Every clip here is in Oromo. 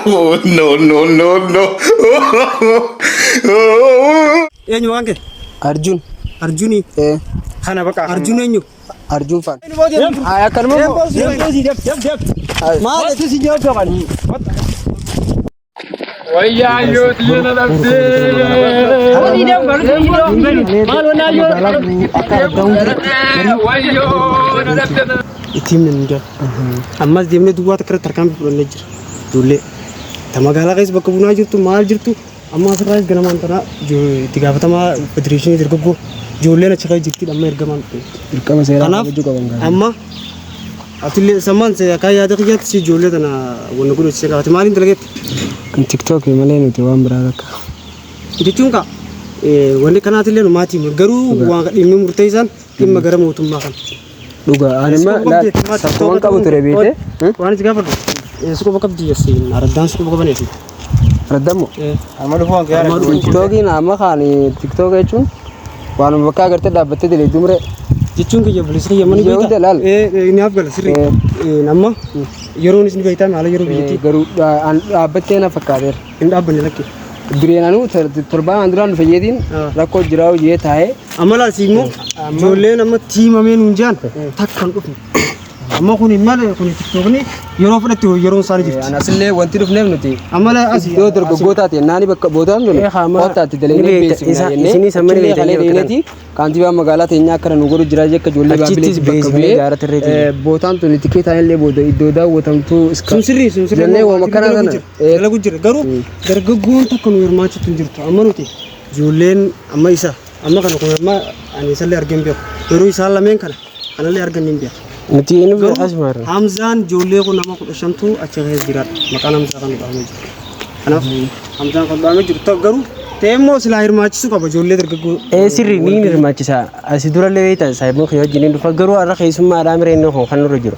Oh, no, no, no, no. Eenyu waan kee? Arjun. Arjuni. Kana baqa. Arjun eenyu? Arjun fan. Ay akkanuma. Maal itti si nyaachuu qabani? Wayyaa yoo tiyya na dhabdee. Kuni dam baru sini dam baru. Malu na yo. Wayyoo na dhabdee. ittiin min jira. Ammas deemnee duwwaa takka irratti harkaan fudhannee jira. Ijoollee ta magaalaa keessa bakka bunaa jirtu maal jirtu amma asirraa ganamaan tanaa itti gaafatamaa federeeshinii dargaggoo ijoolleen achi keessa jirti amma ergamaan. Dirqama seeraa Kanaaf amma Atille sammaan se akka yaada kiyyaatti si ijoollee tana wanna godhu si qabaate maaliin dalagetti? Kan TikTok malee nuti waan biraa takka. Jechuun kaa wanni kanaatillee maatii mur garuu waan dhimmi murteessaan dhimma gara mootummaa kan. Dhugaa anuma laata waan qabu ture beekte. Waan itti gaafadhu. Suqoba qabdi jesse araddaan suqoba qabaneetu. Raddamu. Amma dhufuu hanqee Amma haadha dhufuu. duwwaa. Tiktookiin amma kaan tiktook jechuun waanuma bakka agartee dhaabbattee daleedduu muree. jechuun kiyya bilis kiyya mani Biyya hunda laal. beekta naaf gala sirri Eh. amma yeroonis ni beektaa haala yeroo biyyattii Garuu dha- an dhaabbattee na fakkaateera. hin dhaabbanne lakki Dureen anuu tor- torbaan an duraan dhufe jeetiin Ah. rakkoo jiraa hojii taa'ee amma laasi immoo ijoolleen amma tiimamee nuun jaan takka hin dhufne Amma kun maal kun tiktookni yeroo fudhatti yeroon isaanii jirti. An asillee wanti dhufneef nuti Amala asii. iddoo dargaggootaa ta'e naani bakka boodaa hin Eh, haa, ma- Wanta ati dalagnee ni beekta, beeksifna isa- jennee isinis amma ni achillee beektan kalee bakka dheeneeti kaantibaa magaalaa teenyaa akkana nu godhu jira jekka ijoollee Achittis baabilitti bakka beeksifnee bu'ee gaara tirree ta'e. eh, bootaan tuni tikeetaan illee booda iddoo daawwatamtu iska- Sun sirrii sun sirrii. jennee waan akkana Dalagu sana jira, eh, dalagu jira garuu dargaggoon tokko nu hirmaachisu hin jirtu amma nuti ijoolleen amma isa Amma kana kun amma ani isallee argeen beeku. Garuu isaan lameen kana kanallee argan hin beeku. Nuti inni Garuu beekas maarra. Hamzaan ijoollee kun nama kudha shantu achi keessa jira. Maqaan Hamzaa kan dhahamee jiru. Kanaaf Hamzaan kan dhahamee jiru ta'u garuu ta'e immoo silaa hirmaachisuu qaba ijoollee dargaggoo. Ee sirri ni hirmaachisa. Asi durallee beekta saayiboo kee wajjin hin dhufa garuu har'a keessummaadhaa mireen kun kan nurra jiru.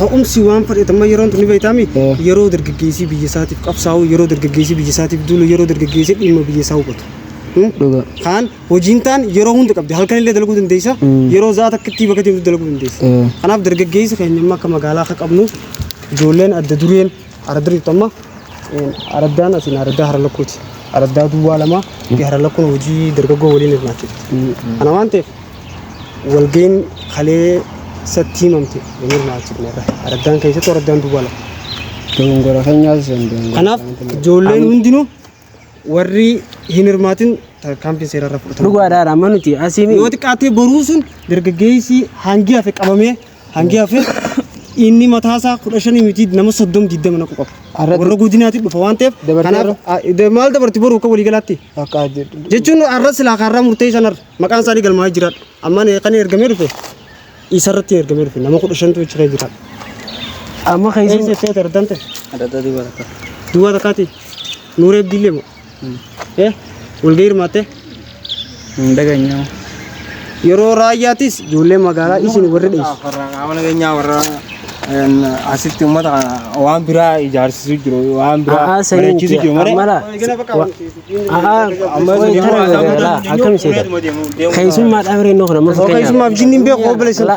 Ka'umsi waan fudhate amma yeroon tuni beektaami yeroo dargaggeessii biyya isaatiif qabsaa'u yeroo dargaggeessii biyya isaatiif duulu yeroo dargaggeessii dhimma biyya isaa hubatu. Dhugaa. Kaan hojiin taan yeroo hunda qabdi halkan illee dalaguu dandeessa yeroo za'a takkatti bakka deemtu dalaguu dandeessa. Kanaaf dargaggeessi keenya amma akka magaalaa akka qabnu ijoolleen adda dureen Aradda jirtu amma araddaan asiin araddaa hara lakkuuti. Araddaa duwwaa lamaa fi hara lakkuun hojii dargaggoo waliin hirmaachifti. Kana waan ta'eef walga'iin kalee isatti himamte hin hirmaachifne irra. Araddaan keessattuu araddaan duwwaa lama. Dogongora keenyaas hin dogongora. Kanaaf ijoolleen hundinuu warri hin hirmaatin tarkaanfiin seeraa irra fudhatamu. Dhugaadhaan amma nuti asiin Yoo xiqqaatee boruu sun dargaggeessi hangi hafe qabamee hangi hafe inni mataasaa kudha shanii miti nama soddom digdama naqu qaba. Arratti- Warra godinaatti dhufa waan ta'eef Dabartee kanaaf irra? a- de- maal dabarti boruu akka waliigalaatti bakka jechuun arra silaa kaarraa murtee sanarra maqaan isaanii galmaa'ee jiraadha. Amma kan ergamee dhufe Isa irratti ergamee dhufe nama kudha shantu achi kee jira. Amma kan isin jettee ta'e argante. Adda duwwaa takka. Duwwaa takkaati. Nuuree Abdiillee moo? Eh walgahii hirmaattee? Hin dhageenyaa. Yeroo raayyaattis ijoollee magaalaa isin warri dheessu. Warra qaama nageenyaa warra een, asitti uummata kana waan biraa ijaarsisuu jiru waan biraa A'aa sanii bareechisu miti. jiru malee. Ammalaa. Akkam seeta? Keessummaa dhaabiree innoo kana mafa Keessummaaf jinni hin beeku obboleessa.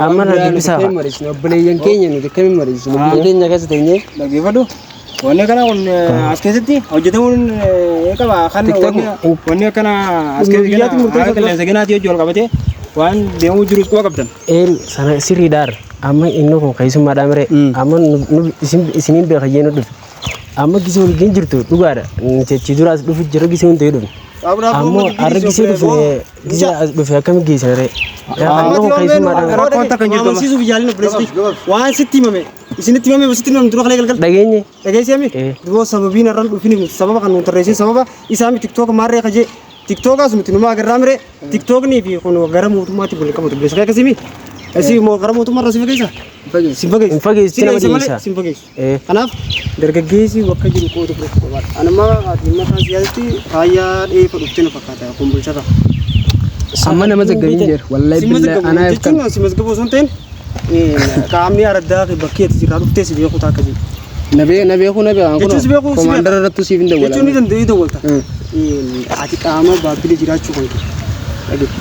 Amma irra dubbisaa fa'a. Obboleeyyan keenya nuti akkamiin mariisinu? Biyya keenya keessa teenyee. Dhaggeeffadhu. Wanni kana kun as keessatti hojjetamuun ni qaba. Kan wanni akkana as keessatti gana haala qilleensa ganaatii hojii wal qabatee waan deemuu jirus quba qabdan. Een sana sirriidhaar. Amma innoo kun keessummaa dhaabiree. Amma isiniin beeka jee nu dhufe. Amma gisee waliin hin jirtu dhugaadha. Nuti achi dura as dhufu jira gisee hundi dhufne. Ammoo har'a gisee dhufne gisee as dhufe akkamitti geessina ree? Amma kun keessummaadhaan gara Rakkoon takka hin jirtu amma. Amansiisuuf yaalin obboleessitti. Waan sitti himame. Isinitti himame moo sitti himame dura kalee galgal. dhageenye. Dhageessee mi? Eh. Duboo sababiin har'an dhufin miti. Sababa kan nuun tarreessin sababa isaa mi tiktook maarree kajee. Tiktookaas nuti numaa agarraa mire. Tiktooknii fi kun gara mootummaatti wal qabatu. Beeksisa akkasii mi? Asii moo gara mootummaa irra si fageessa? Si fageessa. Hin fageessu, Si nama fageessa malee dhiisa. Si fageessu. Kanaaf dargaggeessi bakka jiru qooda fudhachuu qaba. Anuma dhimma isaa siyaasatti faayyaa dheefa dhuftee na fakkaata kun bulchata. Amma nama zaggabiin jira. Wallahi billahi anaa if kan. Jechuun si masgabuu osoo hin ta'in qaamni araddaa fi bakki ati jirraa dhuftee si beekuu ta'a akka jiru. Na bee na beekuu na beekan Jechuun si beekuu si Komaandara beeka. irrattu siif hin Jechuun ni dawwalamu. danda'u ni dawwalta. Mm. Ati qaama baabbilee jiraachuu kan kee. Dhaggeeffa.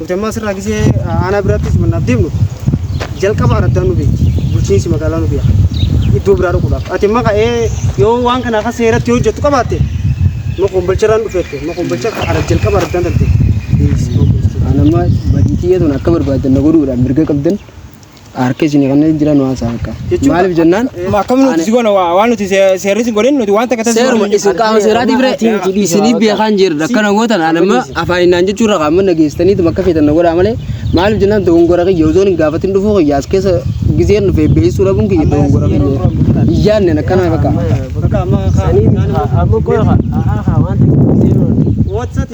Hojammaa sirraa gisee aanaa biraatti simannaaf deemnu jalqaba araddaan nu beekti. Bulchiinsi magaalaa nu beeka. Iddoo biraa dhaquudhaaf. Ati amma ka'ee yoo waan kana akka seeratti yoo hojjettu qabaatte ma kombolcharraan dhufeette ma kombolcha ara jalqaba araddaan talte. Anamma badii kiyya tun akka barbaadan na godhuudhaan mirga qabdan. Harka isin kanneen jiran waan isaa akka. Maaliif jennaan? Akkam nuti si goona waa waan nuti see- seerri si godhin nuti waan takka taasisuu Seeruma hin isin qaama seeraatiif ree isinii beekaan jirra akkana gootan ani amma afaan innaan jechuurra qaama nageessitaniitu bakka feetan na godhaa malee maaliif jennaan dogongora kiyya osoo hin gaafatin dhufuu kiyya as keessa gizeen dhufee beeksisuu dhabuun kiyya dogongora kiyya iyyaannen akkana bakka. Bakka amma kaa- kaan immoo- Amma qofa. Haa haa waan ta'eef. Whatsapp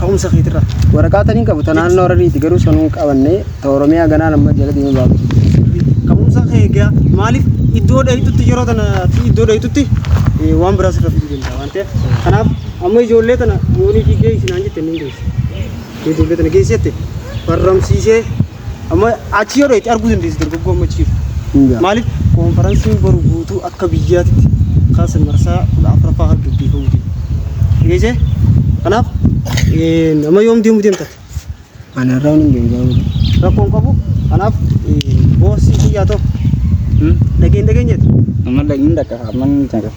Ka'umsa keetirraa. Waraqaa taniin qabu ta naannoo Harariiti garuu sanuu hin qabanne ta Oromiyaa ganaan amma jala deemee baafachuu dandeenya. Ka'umsa kee egaa maaliif iddoo dheeytutti yeroo tana fi iddoo dheeytutti eh, waan biraa sirra fiduu danda'a waan ta'eef kanaaf amma ijoollee tana yoonii fi geessi naan jette inni hin geessi. Ijoollee tana geessi jette barramsiisee Amma achi yoo dheeyte arguu dandeessi dargaggoo amma achi jiru. Hingaa. Maaliif koonfaransiin boru guutuu akka biyyaatitti kaasa marsaa kudha afuraffaa kan gaggeeffamu jiru. Dhageessee? Kanaaf eh, nama yoom deemuu deemta? Ani har'aa hin deemu gaafa ta'e. Rakkoo hin qabu. Kanaaf eh, boosii kiyyaa ta'u. Dhageen dhageenyeeti. Amma dhaqni dhaqa. Amma ni dhaqa.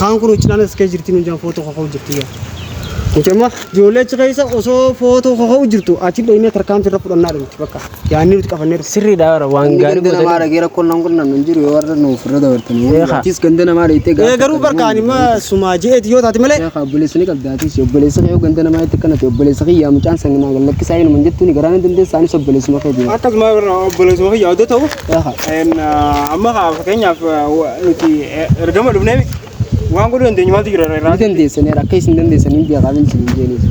Kaan kun uccinaan as kee jirti nuunjaan footoo kaka'u jirti yaa. Mucamma ijoollee achi keessa osoo footoo kaka'u jirtu achi dhaqnee tarkaanfii irra fudhannaa dhumti bakka. Yaanni nuti qabanneeru sirriidha bara waan Inni gaarii ganda namaa godhanii. dhagee rakkoon nan kun nan jiru yoo warra nuuf irra dabartanii. Eegaa. Atis ganda namaa dhayitee Ee garuu barkaan immoo sumaa je'eeti yoo taate malee. Eegaa obboleessa ni qabda atis obboleessa kee yoo ganda namaa itti kanate obboleessa kiyyaa mucaan sanginaa gallakkisaa inuma jettuuni garaa ni dandeessa anis obboleessuma kee jira. Akkasuma obboleessuma kiyyaa odoo ta'u Amma kaa fakkeenyaaf nuti ergama dhufneef waan godhuu dandeenyu maaltu jira irraa? Ni dandeessaniiru akka isin dandeessaniin beekaa miti isin hin jeenis.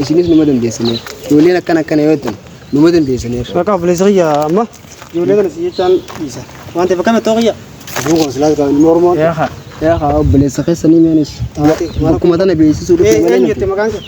Isinis numa dandeessaniiru. Ijoolleen akkana akkana yoo ta'an numa dandeessaniiru. Bakka obboleessa kiyya amma ijoollee kana si jechaan dhiisa. Waan ta'eef akkamitti ta'uu kiyya? Abuu koo silaas kan mormoo. Yaa kaa obboleessa keessanii meenis. Bakkuma tana beeksisuu dhufte malee nuti. Eenyu jette maqaan kee?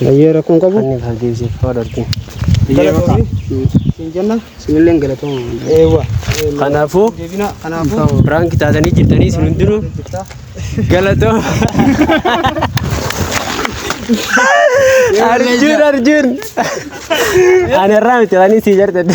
Bayyee rakkoon qabu. Anni kan deebisee faa dartiin. Biyyee makaa. Siin jenna. Sinilleen galatooma. Eewwa. Kanaafuu Deebina kanaafuu. biraanki taatanii jirtanii isin hundinuu galatooma. Arjun Arjun. Ani irraa miti waan isin jartadde.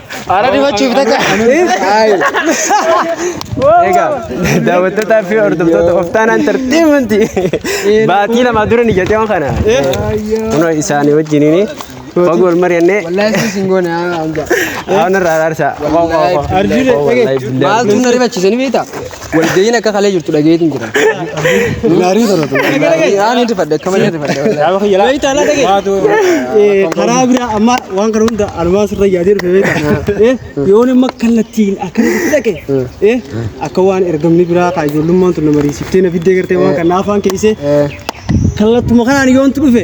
Ara dibachuuf taja. Egaa daawwattootaa fi hordoftoota of taanaa intarteemanti baatii lama dura ni jedhee waan kana. Kunoo isaanii wajjiniin fagoo wal mari'annee Wallahi si singoone hanga. waan irraa araarsa. Wallahi billahi. Maaltu na ribachiisanii beektaa? Walga'iin akka kalee jirtu dhageetiin jira. Naarii sana tu. Aan hin rifadhe akka malee rifadhe. Yaaba kiyya laa. Beektaa laa dhagee. Waatu. Karaa biraa amma waan kana hunda almaan sirra yaadee dhufe beektaa. Yoon amma kallattiin akkana itti dhaqe akka waan ergamni biraa kaa ijoollummaan tun na mariisiftee na fiddee gartee waan kana afaan keessee kallattuma kanaan yoontu dhufe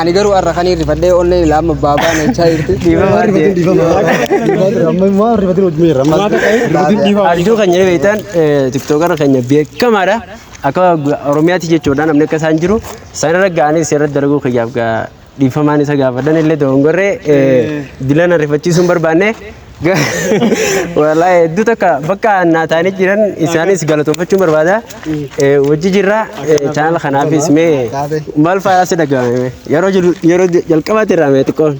Ani garuu har'a kan hin rifadhee onneen ilaa amma baabaa na jechaa jirti. Abjuu keenya beektan tiktookara keenya beekamaadha. Akka Oromiyaatti jechuudha namni akka isaan jiru. Isaan irra ga'anii seera dalaguu kiyyaaf dhiifamaan isa gaafadhan illee doongorree dilana rifachiisuu hin barbaanne. Walaa hedduu takka bakka naa taa'anii jiran isaanis galatoomfachuun barbaada. Eh, Wajji jirra chaanal kanaafis mee maal faayaa si dhaga'ame yeroo jiru- yeroo jalqabaatti irraa mee xiqqoo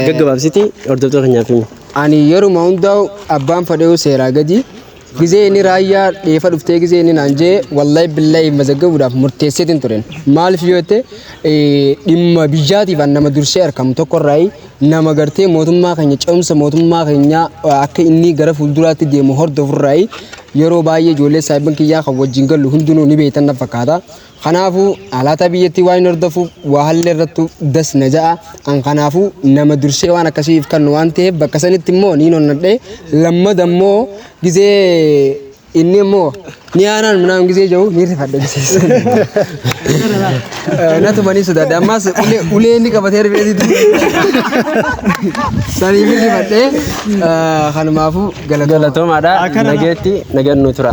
gaggabaabsiti hordoftoota keenyaaf himi. Ani yeruma hundaa'u abbaan fadheewu seeraa gadi Gizee inni raayyaa dheefa dhuftee gizee inni naan jee wallahi billahi mazaggabuudhaaf murteesseetiin turen. Maaliif yoo jette dhimma biyyaatiif an nama dursee argamu tokko irraayi nama gartee mootummaa keenya ce'umsa mootummaa keenyaa akka inni gara fuulduraatti deemu hordofu irraayi yeroo baay'ee ijoollee saayibban kiyyaa kan wajjin gallu hundinuu ni beektan na fakkaata. Kanaafuu haalaataa biyyattii waan hin hordofuuf waa hallee irrattu das na ja'a. An kanaafuu nama dursee waan akkasii if kannu waan ta'eef bakka sanitti immoo niin onnadhe. Lammada immoo gizee inni immoo ni aanaan minaan gizee jiru ni rifadhe gizee sana. Natuma ni sodaadhe ammaas ulee- ulee inni qabatee rifeetitu. Sanii ni rifadhe. Kanumaafuu galatoomaa. Galatomaadha. Nageetti nagan nu tura.